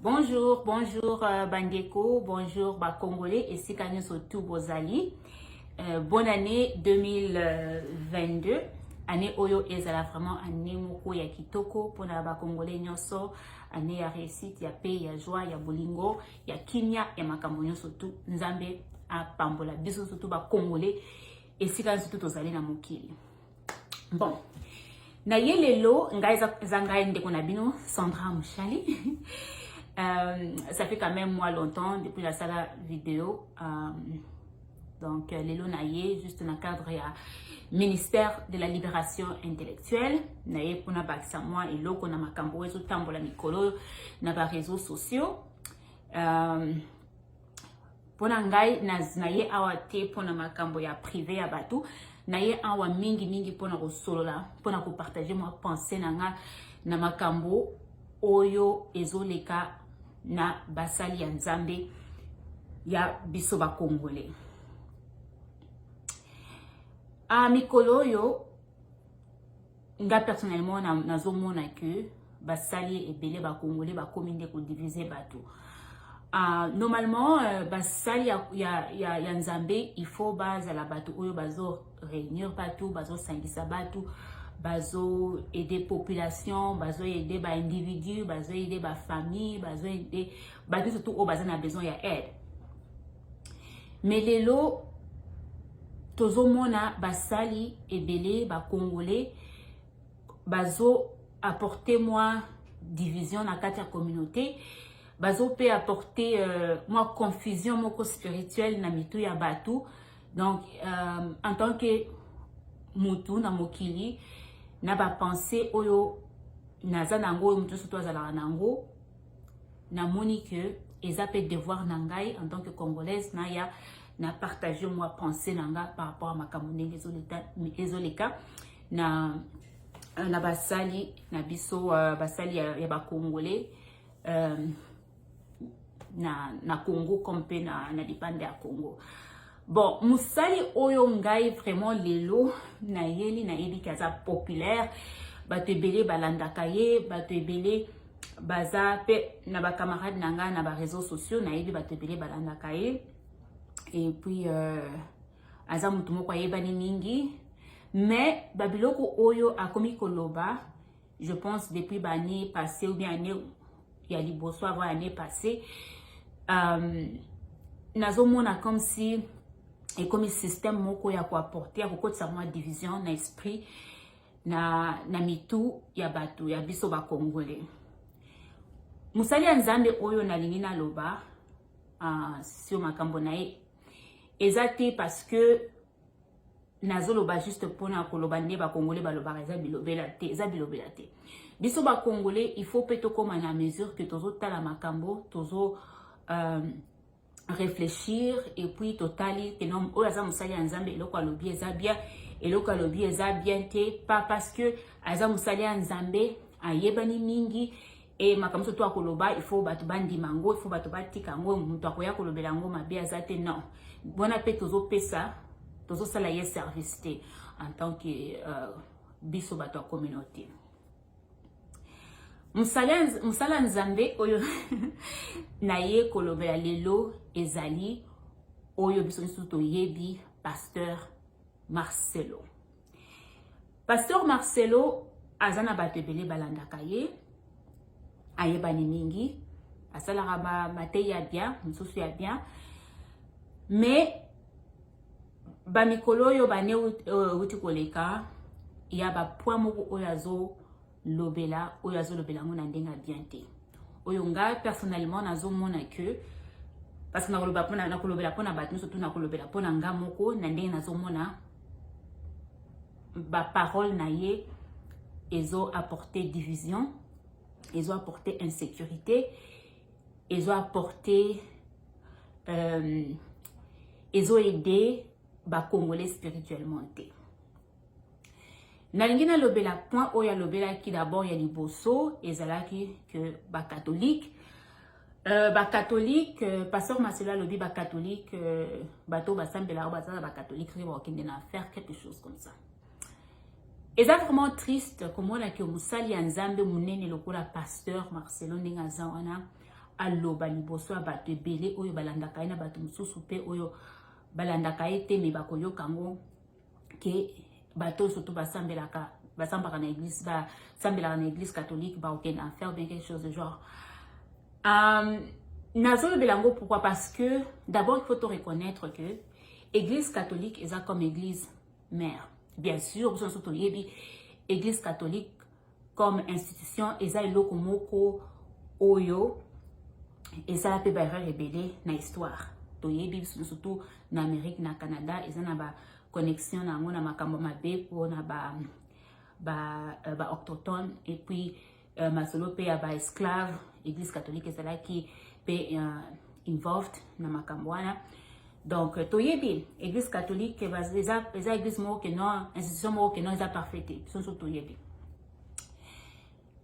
Bonjour, bonjour euh, Bandeko, bonjour ba Congolais et si surtout Bozali. Euh, bonne année 2022. Année Oyo Ezala vraiment année moko ya kitoko pour ba Congolais nyoso. Année ya réussite, ya paix, ya joie, ya bolingo, ya kimia, ya makambo nyoso tout. Nzambe a pambola biso surtout ba Congolais et si surtout tozali na mokili. bon na ye lelo ngai eza ngai ndeko na bino sandra mushali euh, ça fait quand même moi longtemps depuis nasala video euh, donc euh, lelo na ye juste na cadre ya ministère de la libération intellectuelle na ye mpona bakisa mwa eloko na makambo oyo ezotambola mikolo na bareseau sociaux euh, mpona ngai na ye awa te mpona makambo ya prive ya bato na ye awa mingi mingi mpona kosolola mpona kopartage mwa pensée na nga na makambo oyo ezoleka na basali ya nzambe ya biso bakongole a ah, mikolo oyo nga personnellement na nazomona que basali ebele ba congolais bakomi nde ko diviser bato uh, normalement uh, basali ya, ya, ya, ya nzambe il faut bazala bato oyo bazo réunir bato bazosangisa bato bazo aider population bazo aider ba individu bazo aider ba famille bazo aider bato surtout oyo baza na besoin ya aide mais lelo tozomona basali ebele bacongolais bazo apporte mwa division na kati ya communauté bazo mpe apporte euh, mwa confusion moko spirituelle na mitu ya bato donc euh, en tant que mutu na mokili na bapense oyo naza na yango oyo moto nyonso to azalaka na yango namoni que eza pe devoir na ngai en tant que congolaise naya na partage mwa pensée na nga par rapport à makambo ndenge ezoleka na euh, na basali na biso euh, basali ya, ya bacongolais euh, na, na congo comme mpe na, na lipanda ya congo bon mosali oyo ngai vraiment lelo nayeli nayebi ke aza populaire bato ebele balandaka ye bato ebele baza pe na ba camarade na nga na ba réseaux sociaux nayebi bato ebele balandaka ye et puis euh, aza motu moko ayebani mingi mais babiloko oyo akomi koloba je pense depuis baannée passé ou bien année ya liboso avant année passé euh, nazomona comme si ekomi système moko ya koapporte ya kokotisa mwa division na esprit na, na mitu ya bato ya biso bakongole. Mosali ya Nzambe oyo nalingi naloba uh, sur makambo na ye eza te parce que nazoloba juste mpona koloba nde bakongole balobaka eza bilobela te eza bilobela te biso bakongole il faut mpe tokóma na mesure que tozotala makambo tozo euh, réfléchir et puis totali que non oyo aza mosali ya nzambe eloko alobi eza bien eloko alobi eza bien te pas parce que aza mosali ya nzambe ayebani mingi e makambo soto akoloba il faut bato bandima yango il faut bato batika yango moto akoya kolobela yango mabe aza te non wana mpe tozopesa tozosala ye service te en tant que euh, biso bato ya communauté mosala nzambe oyo naye kolobela lelo ezali oyo biso nyonso toyebi pasteur marcelo pasteur marcelo aza na bato ebele balandaka ye ayebani mingi asalaka mateyi ya bien mosusu ya bien mais ba mikolo oyo ba ne wuti koleka ya ba point moko oyo azo lobela oyo azo lobela ngo na ndenga bien te oyo nga personnellement nazo mona que parce que na koloba pona na kolobela pona bato nyonso to na kolobela pona nga moko na ndenge nazo mona ba parole na ye ezo apporter division ezo apporter insécurité ezo apporter euh, ezo aider bacongolais spirituellement te nalingi nalobela point oyo alobelaki d'abord ya liboso ezalaki ke bacatholique euh, bacatholique euh, pasteur maselo alobi bacatholique euh, bato basambelaka baza na bacatholique soki bakokende na faire quelque chose comme ça eza vraiment triste komona ke mosali ya nzambe monene lokola pasteur marcelo ndenge aza wana aloba liboso ya bato ebele oyo balandaka ye na bato mosusu mpe oyo balandaka ye te me bakoyoka yango ke bato oyo soto basambelaka basambaka na église basambelaka na église catholique baokende en faire bien quelque chose de genre um, nazolobela yango pourquoi parce que d'abord il faut to reconnaître que église catholique eza comme église mère bien sûr biso nyonso toyebi église catholique comme institution eza eloko moko oyo esala mpe baerreur ebele na histoire toyebi biso nyonso tu na amérique na canada eza na ba connexion na yango na makambo mabe mpona ba, ba, euh, ba octotone et puis uh, masolo mpe ya baesclave église catholique ezalaki mpe uh, involved na makambo wana donc euh, toyebi église catholique eza, eza église moko ke non institution moko ke non eza parfait te biso nso toyebi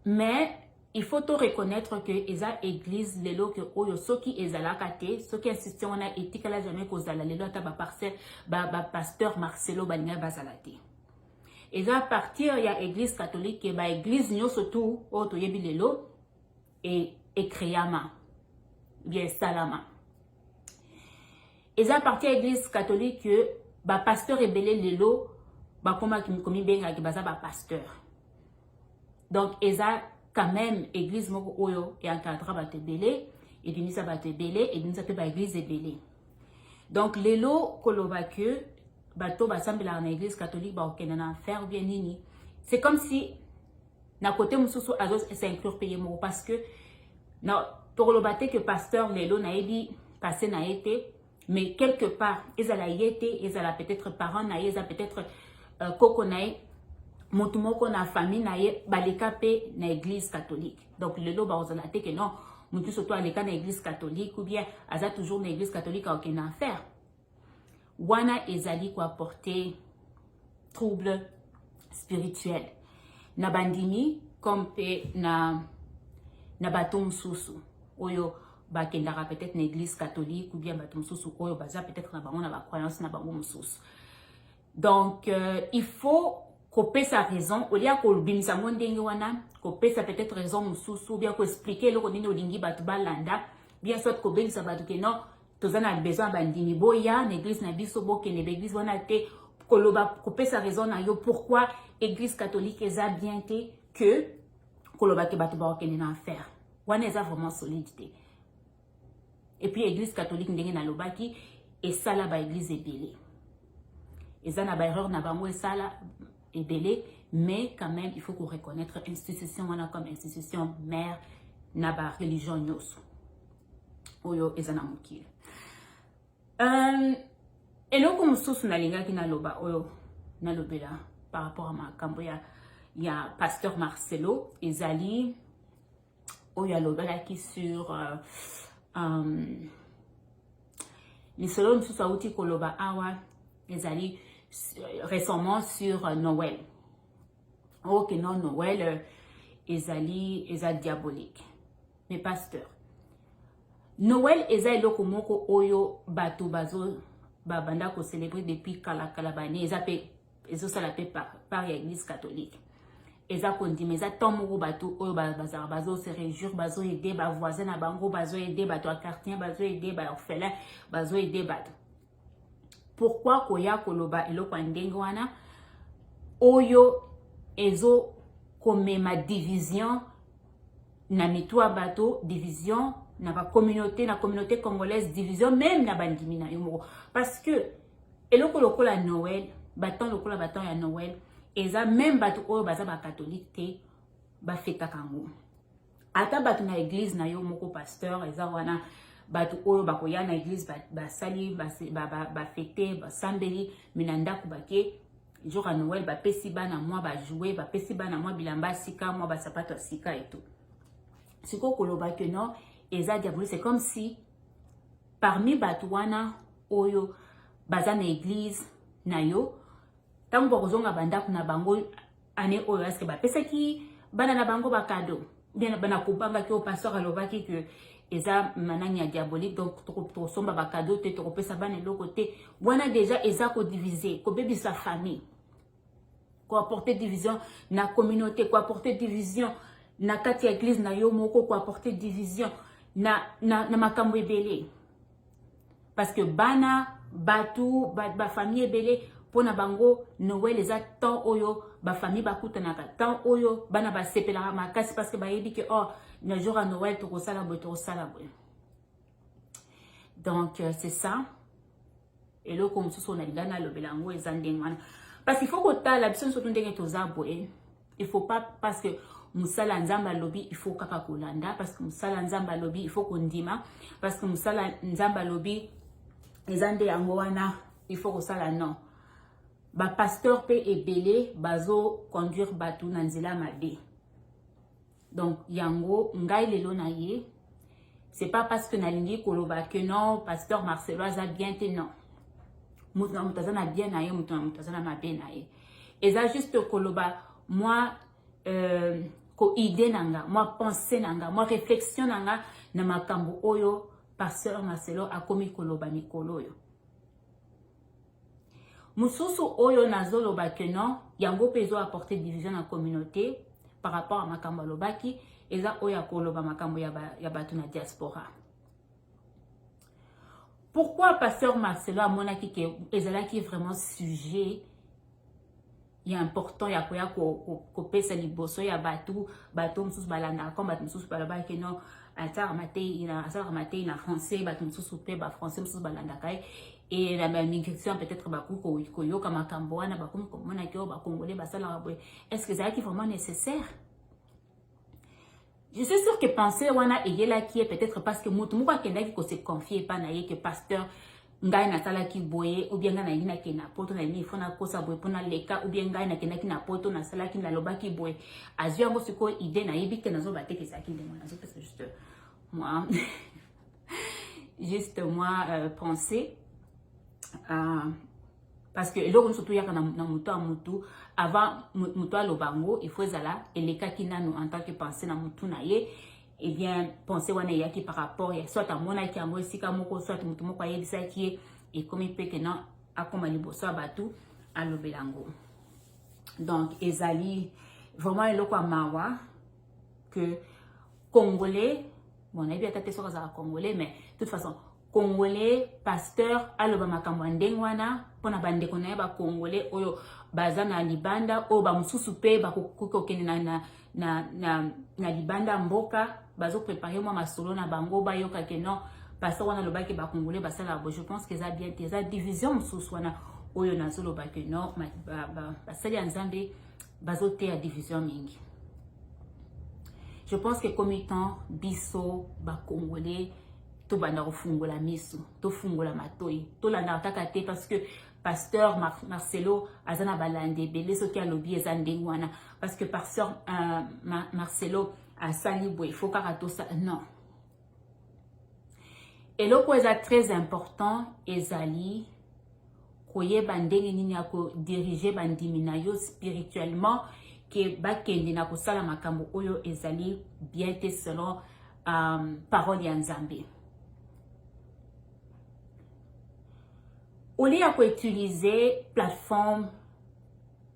mais il faut to reconnaître que eza église lelo ke oyo soki ezalaka te soki institution wana etikala jamais kozala lelo ata bapasteur ba, ba marcelo balingaki bazala te eza partir ya eglise catholique ba eglise nyonso tu oyo toyebi lelo e, ekreama bia esalama eza parti ya eglise catholique bapasteur ebele lelo bakomaki komibengaki baza bapasteur donc eza quand même eglise moko oyo eencadra bato ebele ebimisa bato ebele ebimisa mpe baeglise ebele donc lelo koloba que bato basambelaka na église catholique bakokende na faire bien nini c'est comme si na côté mosusu azo s'inclure mpe ye moko parce que na tokoloba te que pasteur lelo nayebi passé na ye te mais quelque part ezala ye te ezala peut-être parent na ye eza peut-être euh, koko na ye motu moko na famille na ye baleka mpe na église catholique donc lelo bakozala te ke non moto nyonso to aleka na église catholique ou bien aza toujours na église catholique aoke na affaire wana ezali koapporte trouble spirituel na bandimi comme mpe na, na bato mosusu oyo bakendaka peut-être na église catholique ou bien bato mosusu oyo baza peut-être na bango na bacroyance na bango mosusu donc euh, il faut kopesa raison olie ya kobimisa yango ndenge wana kopesa peut-être raison mosusu ou bien koexplike eloko nini olingi bato balanda bien soit kobengisa bato ke non toza na besoin ya bandimi boya na eglise na biso bokende baeglise wana te koloba kopesa raison na yo pourquoi eglise catholique eza bien te que koloba ke bato bakokende na affaire wana eza vraiment solide te et puis église catholique ndenge nalobaki esala ba église ebele eza na ba erreur na bango esala ebele mais quand même il faut ko reconnaître institution wana comme institution mère na ba religion nyonso oyo eza na mokili euh, eloko mosusu nalingaki naloba oyo nalobela par rapport à makambo ya ya pasteur marcelo ezali oyo alobalaki sur uh, um, misolo mosusu awuti koloba awa ezali euh, récemment sur euh, noël oke oh, non noël euh, ezali eza diabolique mais pasteur noël eza eloko moko oyo bato bazo babanda kocelebre depuis kalakala bane eza mpe ezosala mpe par ya eglise catholique eza kondima eza temps moko bato oyo bazalaka bazose réjouir bazoede bavoisin na bango bazoede bato ya quartier bazoede baorphelin bazoede bato pourkui koya koloba eloko ya ndenge wana oyo ezokomema division na mitu ya bato division na bacommunauté na communauté congolaise division meme na bandimi na yo moko parce que eloko lokola noel batemp lokola batemp ya noel eza meme bato oyo baza bakatholike te bafetaka yango ata bato na eglize na yo moko pasteur eza wana bato oyo bakoya na eglize basali bafete basambeli me na ndako bake jour ya noel bapesi bana mwa bajoue bapesi bana mwa bilamba ya sika mwa basapato ya sika eto sikoyo koloba ke non eza diabolique c'est comme si parmi bato wana oyo baza na eglise na yo ntango bakozonga bandako na bango ane oyo aske bapesaki bana na bango bakado bien bana kobangaki oyo pasteur alobaki ke eza manani ya diabolique donc tokosomba bakado te tokopesa bana eloko te wana deja eza kodivise kobebisa famille ko apporter division na communauté ko apporter division na kati ya église na yo moko ko apporter division na, na, na makambo ebele parce que bana bato bafamille ba ebele mpo na bango noel eza temps oyo bafamille bakutanaka temps oyo bana basepelaka makasi parce que bayebi ke or oh, na jour ya noel tokosala boye tokosala boye donc euh, c'est ça eloko mosusu oyo nalinga nalobela yango eza ndenge wana parce il faut kotala biso nyonso to ndenge toza boye il faut pas parce que mosala ya nzambe alobi il faut kaka kolanda parce que mosala ya nzambe alobi il faut kondima parce que mosala ya nzambe alobi eza nde yango wana il faut kosala non bapasteur mpe ebele bazoconduire bato na nzela mabe donc yango ngai lelo na ye c'est pas parce que nalingi koloba que non pasteur marcelo aza bien te non moto na moto aza na bien na ye moto na moto aza na mabe na ye eza juste koloba mwa euh, koide na nga mwa pensée na nga mwa réflexion na nga na makambo oyo pasteur marcelo akomi koloba mikolo oyo mosusu oyo nazoloba que non yango mpe ezo apporter division na communauté par rapport à makambo alobaki eza oyo ya koloba makambo ya, ba, ya bato na diaspora pourquoi pasteur marcelo amonaki ke ezalaki vraiment sujet ya important ya koya kopesa liboso ya bato bato mosusu balandaka koma bato mosusu balobaki no asalaka matei na asalaka matei na français bato mosusu mpe ba français mosusu balandaka ye e na bamigration peut-être bakoki koyoka makambo wana bakomi komona ke oyo bakongole basalaka boye est ce que ezalaki vraiment nécessaire Je suis sûr que pensée wana eyelaki ye peut-être parce que moto moko akendaki ko se confier epai na ye que pasteur ngai nasalaki boye ou bien ngai nalingi nakende na poto nalingi ifo nakosa boye mpo naleka ou bien ngai nakendaki na poto nasalaki nalobaki boye azwi yango sikoyo idée nayebi te nazoba te kesaki ndenge wana nazopesa juste moi juste moi euh, pensée euh, parce que eloko nyonso toyaka na, na moto ya motu avant moto aloba yango il faut ezala elekaki nanu en tant que pensée na motu na ye eh bien pensée wana eyaki par rapport ya soit amonaki yango esika moko soit motu moko ayebisaki ye ekomi mpe ke non akoma liboso ya bato alobela yango donc ezali vraiment eloko ya mawa que congolais bon nayebi ata te soki azala congolais mais toute façon congolais pasteur aloba makambo ya ndenge wana mpo na bandeko na ye bacongolais oyo baza na libanda oyo bamosusu mpe bakoki kokende na, na, na, na, na libanda mboka bazoprepare mwa masolo na bango bayoka ke non pasteur wana alobaki bacongolais basalaka bo je pense que eza bien te eza division mosusu wana oyo nazoloba ke non basali ya nzambe bazoteya division mingi je pense que komi temps biso bacongolais tobanda kofungola miso tofungola matoi tolandaka kaka te parce que pasteur Mar marcelo aza na balandi ebele soki alobi eza ndenge wana parce que pasteur euh, Mar marcelo asali boye fo kaka tosa non eloko eza très important ezali koyeba ndenge nini ya kodirige bandimi na yo spirituellement ke bakende na kosala makambo oyo ezali bien te selon um, parole ya nzambe olie ya koutilize plateforme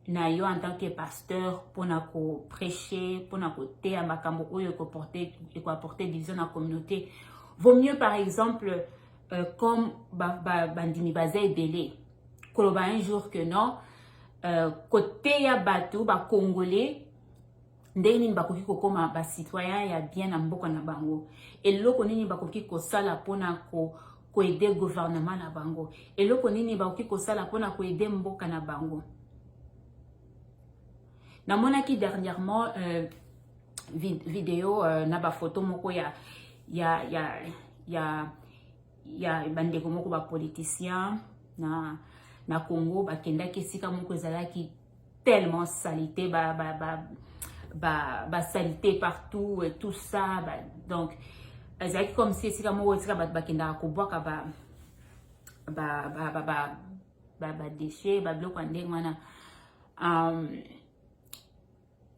na yo en tant que pasteur mpona koprêche mpona koteya makambo oyo ekoapporte division na communauté vaut mieux par exemple euh, comme bandimi ba, ba baza ebele koloba un jour que non euh, koteya bato bacongolais ndenge nini bakoki kokoma ba citoyen ya bien na mboka na bango eloko nini bakoki kosala mpona ko koede gouvernement na bango eloko nini bakoki kosala mpona koede mboka na bango namonaki dernièrement euh, vid video euh, na bafoto moko ya ya ya ya ya bandeko moko bapoliticien na na congo bakendaki esika moko ezalaki tellement salite ba ba ba ba, ba salite partout et tout ça ba, donc ezalaki comme si esika moko esika bato bakendaka kobwaka ba ba ba ba ba ba, ba déchet ba biloko ya ndenge wana um,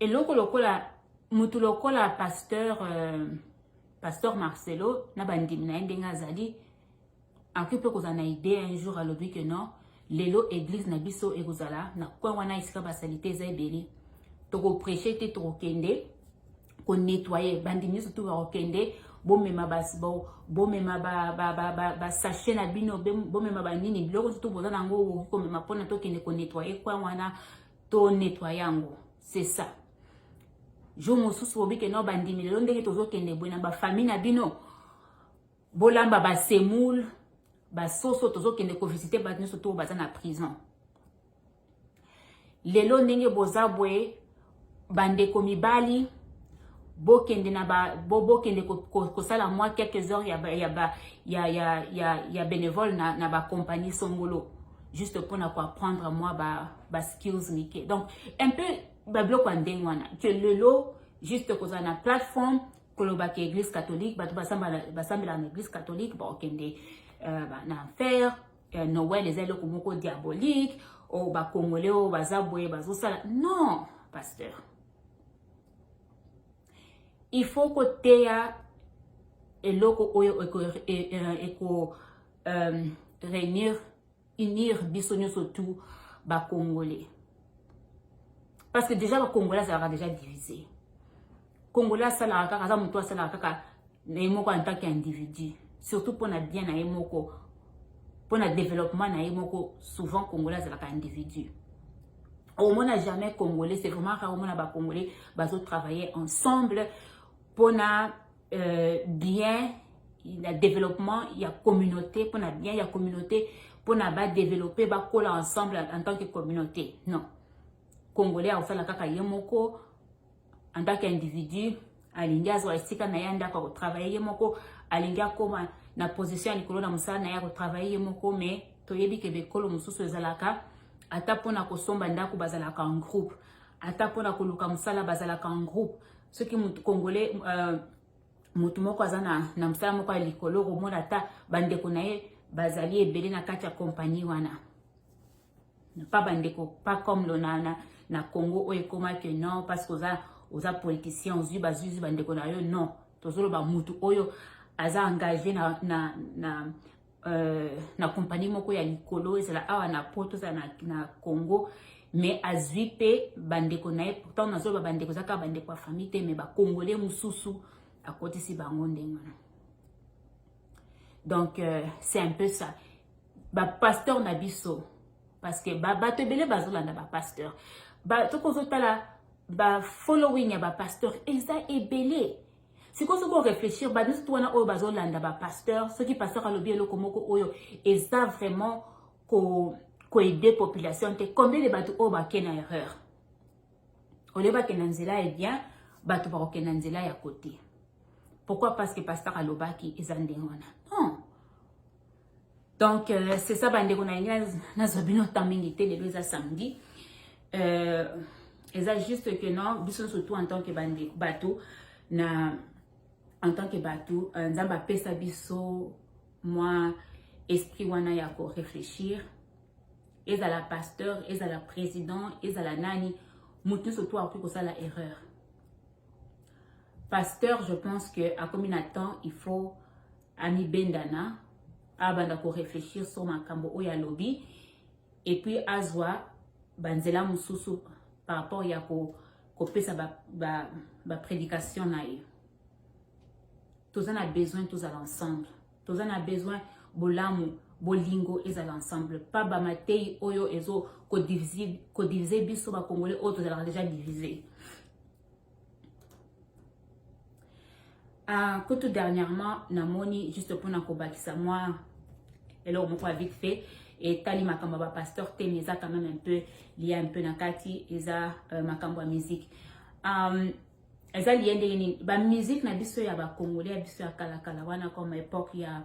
eloko lokola motu lokola pasteur euh, pasteur marcelo na bandimi na ye ndenge azali akoki mpe kozala na idee un jour alobi que non lelo eglise na biso ekozala na coin wana esika basalite eza ebele tokopreche te tokokende konettoye bandi nyonso tu bakokende bomema bomema basashe na bino bomema banini biloko nso toboza na yango okoki komema mpona tokende konettoye coin wana tonettoye yango c'est ça jour mosusu bobi keno bandimi lelo ndenge tozokende boye na bafamille na bino bolamba ba semoule basoso tozokende kovisite bato nyonso to baza na prison lelo ndenge boza boye bandeko mibali bokende na ba bo, bokende kosala ko, ko mwa quelques heures ya ya ba, ya ya ya, ya bénévole na na ba compagnie songolo juste mpo na koapprendre mwa ba ba skills mike donc un peu babiloko ya ndenge wana que lelo juste kozala na plateforme koloba ke eglise catholique bato basambelaka na eglise catholique bakokende euh, na enfer euh, noel eza eloko moko diabolique o oh, bakongole oyo oh, baza boye bazosala non pasteur il faut koteya eloko oyo eko, eko, eko euh, réunir unir biso nyonso tout ba congolais parce que déjà ba congolais azalaka déjà divisé congolais asalaka kaka aza motu asalaka kaka na ye moko en tant qu'individu surtout mpo na bien na ye moko mpo na développement na ye moko souvent congolais azalaka individu omona jamais congolais c'est vraiment rare omona bacongolais bazotravailler ensemble mpo na euh, bien na développement ya communauté mpona bien ya communauté mpona badeveloppe bakola ensemble en tant que communauté non congolais akosala kaka ye moko en tant qu'individu alingi azwa esika na ye ndako akotravaille ye moko alingi akoma na position ya likolo na mosala na ye akotravaille ye moko mais toyebi ke bikolo mosusu ezalaka ata mpona kosomba ndako bazalaka en groupe ata mpona koluka mosala bazalaka en groupe soki mutu congolais euh, mutu moko aza na, na mosala moko ya likolo okomona ata bandeko na ye bazali ebele na kati ya kompani wana pa bandeko pa comme lona na, na congo oyo ekoma ke non parce que oza, oza politicien ozwi bazwizwi bandeko na yo non tozoloba mutu oyo aza engage na, na, na Euh, na kompani moko ya likolo ezala awa na poto ezala na, na congo mais azwi mpe bandeko na ye pourtant nazoloba bandeko eza kaka bandeko ya famille te mais bakongole mosusu akotisi bango ndenge wana donc euh, c'est un peu ça bapasteur na biso parce que bato ebele bazolanda bapasteur tokozotala bafollowing ya bapasteur eza ebele sikoyo soki oreflechir bato nyonso to wana oyo bazolanda bapasteur soki pasteur alobi eloko moko oyo eza vraiment koaide ko population te combien de bato oyo bake na erreur olie bakenda nzela ya bien bato bakokenda nzela ya kote pourquoi parce que pasteur alobaki eza ndenge wana non donc euh, c'est ça bandeko na ngai nazwa bino temps mingi te lelo eza samedi euh, eza juste que non biso surtout en tant que bandeko bato na en tant que bato euh, nzambe apesa biso mwa esprit wana ya korefléchir ezala pasteur ezala président ezala nani moto nyonso to akoki kosala erreur Pasteur, je pense que à combien de temps il faut ami bendana abanda ko réfléchir sur makambo oyo alobi et puis azwa banzela mususu par rapport ya ko kopesa ba, ba, ba prédication na ye toza na besoin tozala ensemble toza na besoin bolamu bolingo ezala ensemble pa bamatei oyo ezo kodivise biso bakongolais oyo tozalaka deja divise uh, ah, kutu dernièrement namoni juste mpona kobakisa mwa eloko moko ya vite fait etali makambo ya bapasteur te mais eza quand même un peu lia un peu na kati eza uh, makambo ya musique um, eza liye ndenge nini ba musique na biso ya ba congolais ya biso ya kala kala wana comme époque ya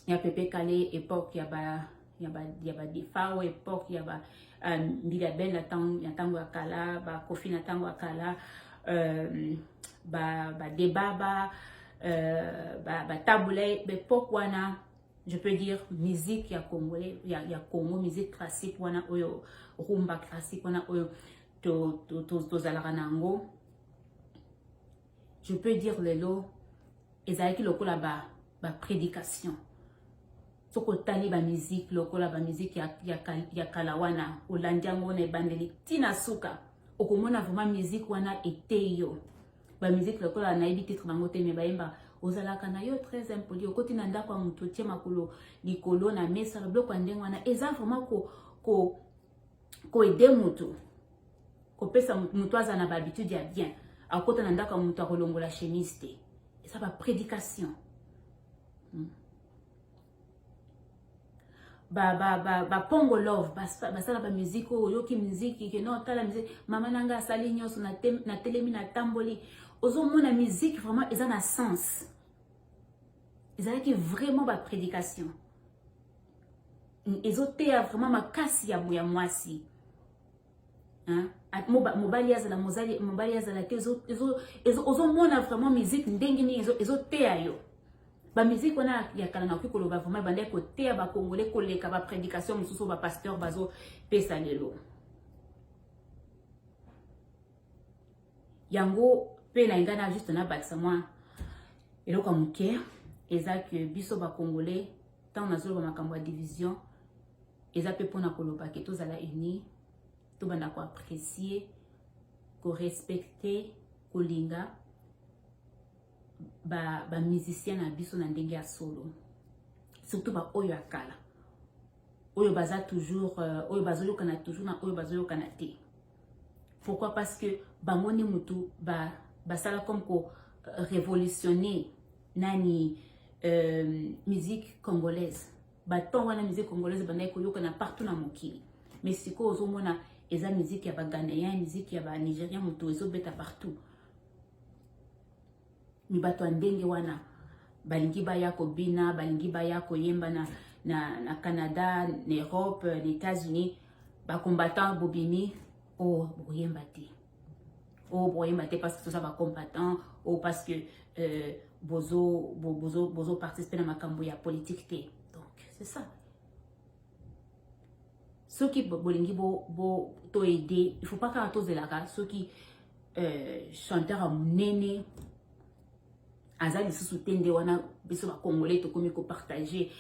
ya pepe kale époque ya ba ya ba ya ba defao époque ya ba euh, mbila belle na tango ya tango ya kala ba kofi na tango ya kala euh, ba ba debaba euh, ba ba tabule ba époque wana je peux dire musique ya congolais ya, ya congo musique classique wana oyo rumba classique wana oyo tozalaka na yango je peux dire lelo ezalaki lokola ba, ba prédication soki otali bamiziki lokola bamiziki ya, ya, ya kala wana olandi yango wana ebandeli ntina suka okomona vraiment miziki wana eteyi yo bamiziki lokola nayebi titre bango te me bayemba ozalaka na yo très impoli okoti na ndako ya moto otie makolo likolo na mesa biloko ya ndenge wana eza vraiment ko, ko koede moto kopesa moto aza na bahabitude ya bien akota na ndako ya moto akolongola chemise te eza baprédication hmm. bapongo love basala bamiziki oyo oyoki miziki keno tala miziki mama na ngai asali nyonso natelemi natamboli ozomona miziki vraiment eza na sens ezalaki vraiment ba prédication ezoteya vraiment makasi ya ya mwasi mobali azala mobali azala te ozomona vraiment musique ndenge nini ezoteya yo bamiziki wana ya kala nakoki koloba vraimen ebandaki koteya bakongole koleka baprédication mosusu bapasteur bazopesa lelo yango pe na ingana juste na bakisa mwa eloko moke eza que biso ba congolais tant nazoloba makambo ya division eza pe pona koloba ke tozala unis tobanda ko apprécier ko respecter kolinga ba ba musiciens na biso na ndenge ya solo surtout ba oyo ya kala oyo baza toujours euh, oyo bazoyokana toujours na oyo bazoyokana te pourquoi parce que bango nde motu ba basala comme ko euh, révolutionner nani euh, musique congolaise baton wana musique congolaise bandaki koyokana partout na mokili mais sikoyo ozomona eza musique ya baghanéen musique ya banigérien moto ezobeta partout mi bato ya ndenge wana balingi baya kobina balingi baya koyemba na, na, na canada na europe na états-unis bacombattant bobimi o oh, bokoyemba te o oh, bokoyemba te parce que toza bacombattant o oh, parce que euh, bozo, bozo, bozo participe na makambo ya politique te donc c'est ça soki bolingi bo, bo to aider il faut pas kaka tozelaka soki euh, chanteur ya monene aza lisusu te nde wana biso bakongole tokomi kopartage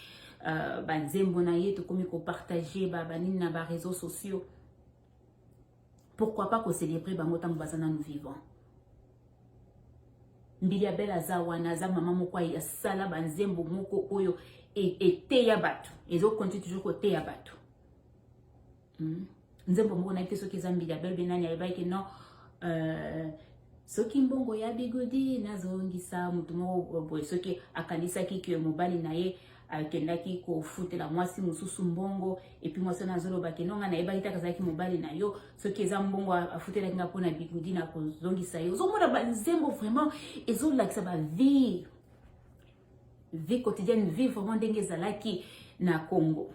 uh, banzembo na ye tokomi kopartage banini na bareseau sociaux pourquoi pas ko célébrer bango tango baza nanu vivant mbili ya bela aza wana aza mama moko asala banzembo moko oyo e, eteya bato ezokonti toujours koteya bato hmm? nzembo moko nayebi te soki eza mbili ya bela be nani ayebaki ke non euh, soki mbongo ya bigodi nazongisa motu moko boye soki akanisaki ke mobali na ye akendaki kofutela mwasi mosusu mbongo epuis mwasi wana azoloba ke nonga nayebaki taka azalaki mobali na yo soki eza mbongo afutelaki nga mpona bigudi na kozongisa ye ozomona banzembo vraiment ezolakisa bavie vie quotidienne vie vraiment ndenge ezalaki na congo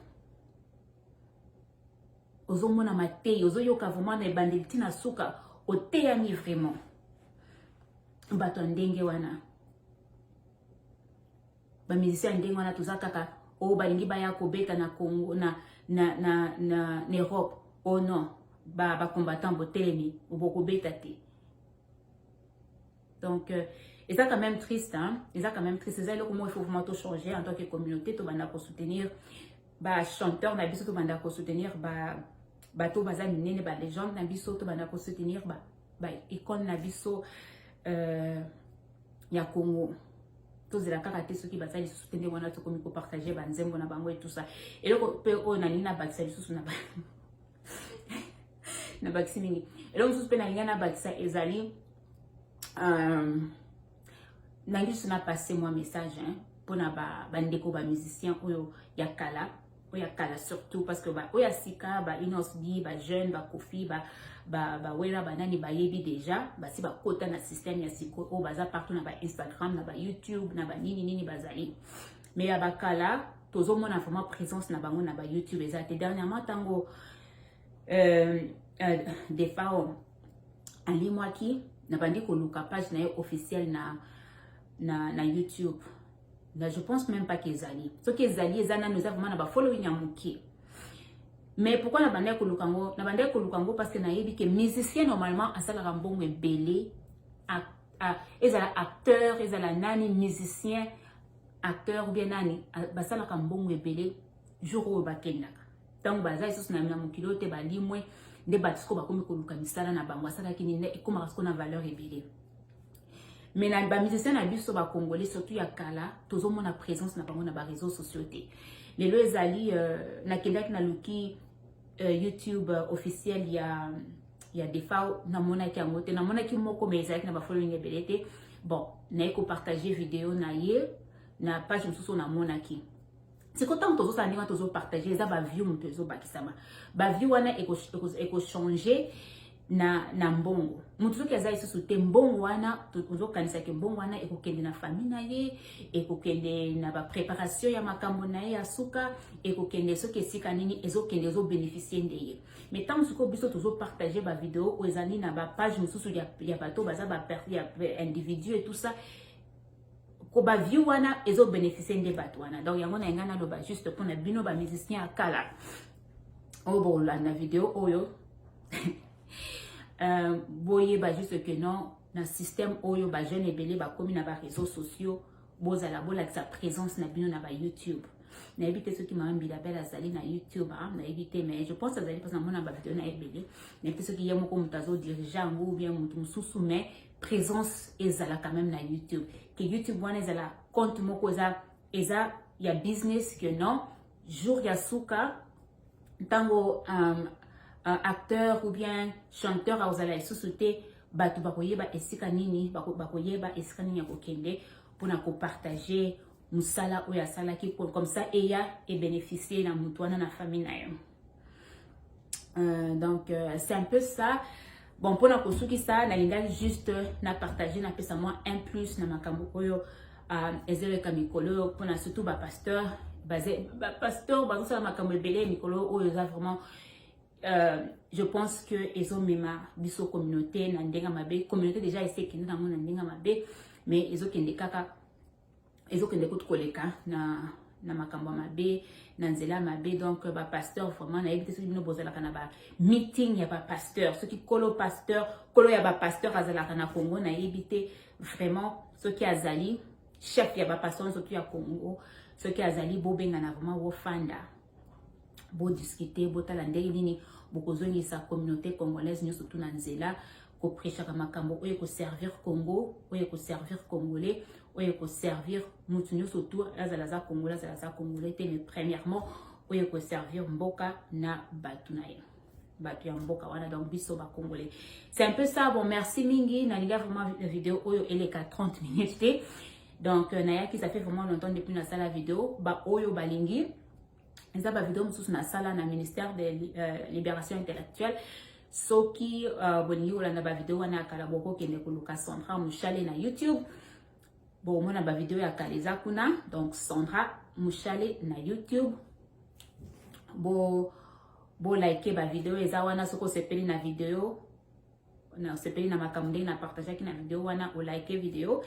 ozomona mateyi ozoyoka vraiment na ebandeli ntina suka oteyami vraiment bato ya ndenge wana ba musicien ya ndenge wana toza kaka o oh, balingi baya kobeta na congo na, na, na, na, na europe o oh, non bacombattant ba botelemi bokobeta te donc euh, eza quand même triste hein? eza quand même triste eza eloko moko il faut vraiment tochanger en tant que communauté tobanda kosoutenir bachanteur na biso tobanda kosoutenir bato baza minene balégende na biso tobanda kosoutenir baicone na biso euh, ya congo tozela kaka te soki baza lisusu te ndenge wana tokomi kopartage banzembo na bango etusa eloko mpe oyo nalingi nabakisa lisusu na nabakisi mingi eloko mosusu mpe nalingi nabakisa ezali euh, nangi lisusu na passe mwa message mpona bandeko ba musicien oyo ya kala oyo ya kala surtout parce que oyo ya sika ba Innoss B ba jeune ba Koffi ba ba ba Wera ba nani bayebi deja basi bakota na système ya siko oyo baza partout na ba Instagram na ba YouTube na ba nini nini bazali mais ya bakala tozomona vraiment présence na bango na ba YouTube eza te dernièrement ntango euh, euh, Defao alimwaki nabandi koluka page na ye officielle na, na, na YouTube na je pense même pas qu'ezali soki ezali eza nanu eza vraiment na ba following ya moke mais pourquoi na bandaki koluka yango na bandaki koluka yango parce que nayebi ke musicien normalement asalaka mbongo ebele ezala acteur ezala nani musicien acteur ou bien nani basalaka mbongo ebele jour oyo bakendaka ntango baza lisusu na mokili oyo te balimwe nde bato sikoyo bakomi koluka misala na bango asalaki nini ekomaka sikoyo na valeur ebele mais na ba musiciens na biso ba congolais surtout ya kala tozomona présence na bango na ba réseaux sociaux te lelo ezali euh, nakendaki naluki euh, youtube euh, officiel ya ya defao namonaki yango te namonaki moko mais ezalaki na ba following ebele te bon naye kopartage video na ye na page mosusu namonaki siko ntango tozosala ndenge wana tozopartage eza baview moto ezobakisama baview wana ekochange eko, eko na, na mbongo moto soki aza lisusu te mbongo wana ozokanisa ke mbongo wana ekokende na famille na ye ekokende na bapreparation ya makambo na ye ya suka ekokende soki esika nini ezokende ezobeneficie nde ye mai ntango sikoyo biso tozopartage bavideo oyo ezali na bapage mosusu ya, ya bato baza ba, ya, individu et tout ça ko ba vie wana ezo beneficier nde bato wana donc yango na engai naloba juste mpo na bino bamusicien ya kala oyo bokolanda video oyo euh, boyeba juste que non na système oyo bajeune ebele bakomi na bareseau sociaux bozala bolakisa présence na bino na ba youtube nayebi te soki mama mbila bele azali na youtube ah, nayebi te mais je pense azali mposa namona bavideo na ebele nayebi te soki ye moko moto azodirige yango ou bien moto mosusu mais presence ezala quand même na youtube que youtube wana ezala compte moko eza eza ya business que non jour ya suka ntango um, uh, acteur ou bien chanteur akozala lisusu te bato bakoyeba esika nini bakoyeba bako esika nini ya kokende mpona kopartage mosala oyo asalaki comme ça eya ebénéficie na moto wana na famille na yo Euh, donc euh, c'est un peu ça bon mpona kosukisa nalingaki juste na partage napesa mwa un plus na makambo oyo euh, ezoleka mikolo oyo mpona surtout bapasteur bapasteur bazosala makambo ebele ya mikolo oyo eza vraiment Euh, je pense que ezomema biso communauté na ndenge mabe communauté déjà esekende nango na ndenge mabe mais ezokende kaka ezokende kutu koleka na na makambo mabe na nzela mabe donc ba pasteur vraiment nayebi te soki bino bozalaka na ba meeting ya ba pasteur soki kolo pasteur kolo ya ba pasteur azalaka na congo nayebi te vraiment soki azali chef ya ba pasteur soki ya congo soki azali bobengana vraiment wofanda bodiscute botala ndenge nini bokozongisa communauté congolaise nyonso tu na nzela koprechaka makambo oyo ekoservir congo oyo ekoservir congolais oyo ekoservir motu nyonso tu azala aza congolais azala aza congolais te mais premièrement oyo ekoservir mboka na bato na ye bato ya mboka wana donc biso bacongolais c'est un peu ça bon merci mingi nalinga vraiment video oyo eleka 30 minutes te donc euh, nayaki ça fait vraiment longtemps depuis nasala video baoyo balingi eza ba video mosusu na sala na ministère de euh, libération intellectuelle soki euh, bolingi kolanda ba video wana ya kala bokokende koluka Sandra Mushale na YouTube bomona ba video ya kala eza kuna donc Sandra Mushale na YouTube bo bo like ba video eza wana soki osepeli na video na sepeli na makambo ndenge na partageaki na video wana olike video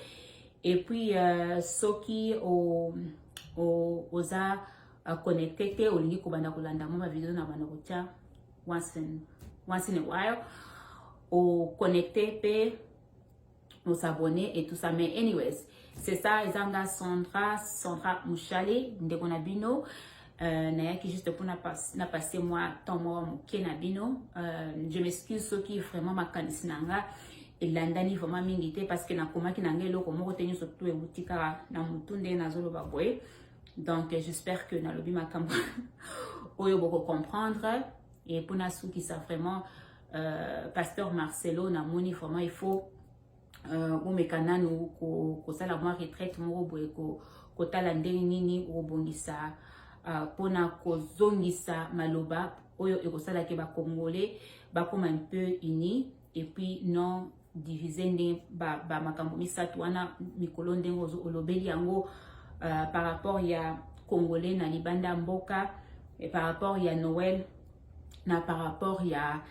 et puis uh, soki o, o, oza uh, connecte te olingi kobanda kolanda mwa bavideo na banda kotya once in, once in a while o connecte mpe au s'abonner et tout ça mais anyways c'est ça ezanga Sandra Sandra Mouchale ndeko na bino euh, nayaki juste pour na, pas, na passer moi temps moi moke na bino euh, je m'excuse ceux qui vraiment makanisi na nga elandani vraiment mingi te parce que nakomaki na ngai eloko moko te nyonso tu euti kaka na motu ndenge nazoloba boye donc j'espère que nalobi makambo oyo boko comprendre et mpo nasukisa vraiment Euh, pasteur Marcelo na moni vraiment il faut euh, bomeka nanu kosala mwa retraite moko boye kotala ndenge nini okobongisa euh, mpona kozongisa maloba oyo ekosala ke bakongole bakoma un peu unis et puis non divise ndenge ba, ba makambo misato wana mikolo ndenge olobeli yango uh, par rapport ya congolais na libanda ya mboka et par rapport ya noël na par rapport ya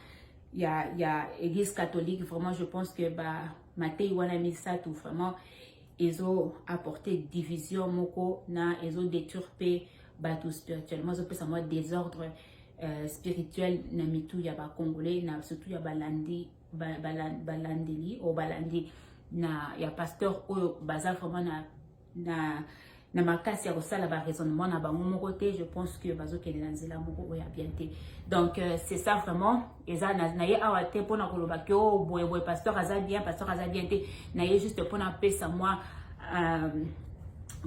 ya ya église catholique vraiment je pense que ba matei wana misato vraiment ezo apporter division moko na ezo détruire mpe bato spirituellement ezopesa mwa désordre euh, spirituel na mitu ya bacongolais na surtout ya balandi balandeli oyo balandi na ya pasteur oyo baza vraiment na na na makasi ya kosala baraisonnement na bango moko te je pense que bazokende na nzela moko oyo ya bien te donc euh, c'est ça vraiment eza na ye awa te mpona koloba ke o oh, boye boye pasteur aza bien pasteur aza bien te na ye juste mpona apesa mwa euh,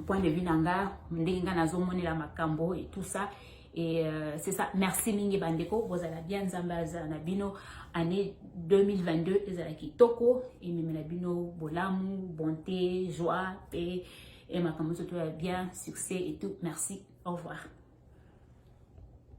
point de vue na nga ndenge nga nazomonela makambo et tout ça Et euh, c'est ça. Merci mingi bandeko. Bozala bien Nzambe azala na bino. Année 2022 ezala kitoko. Ememe na bino bolamu, bonté, joie, paix. Et makambo tout bien, succès et tout. Merci. Au revoir.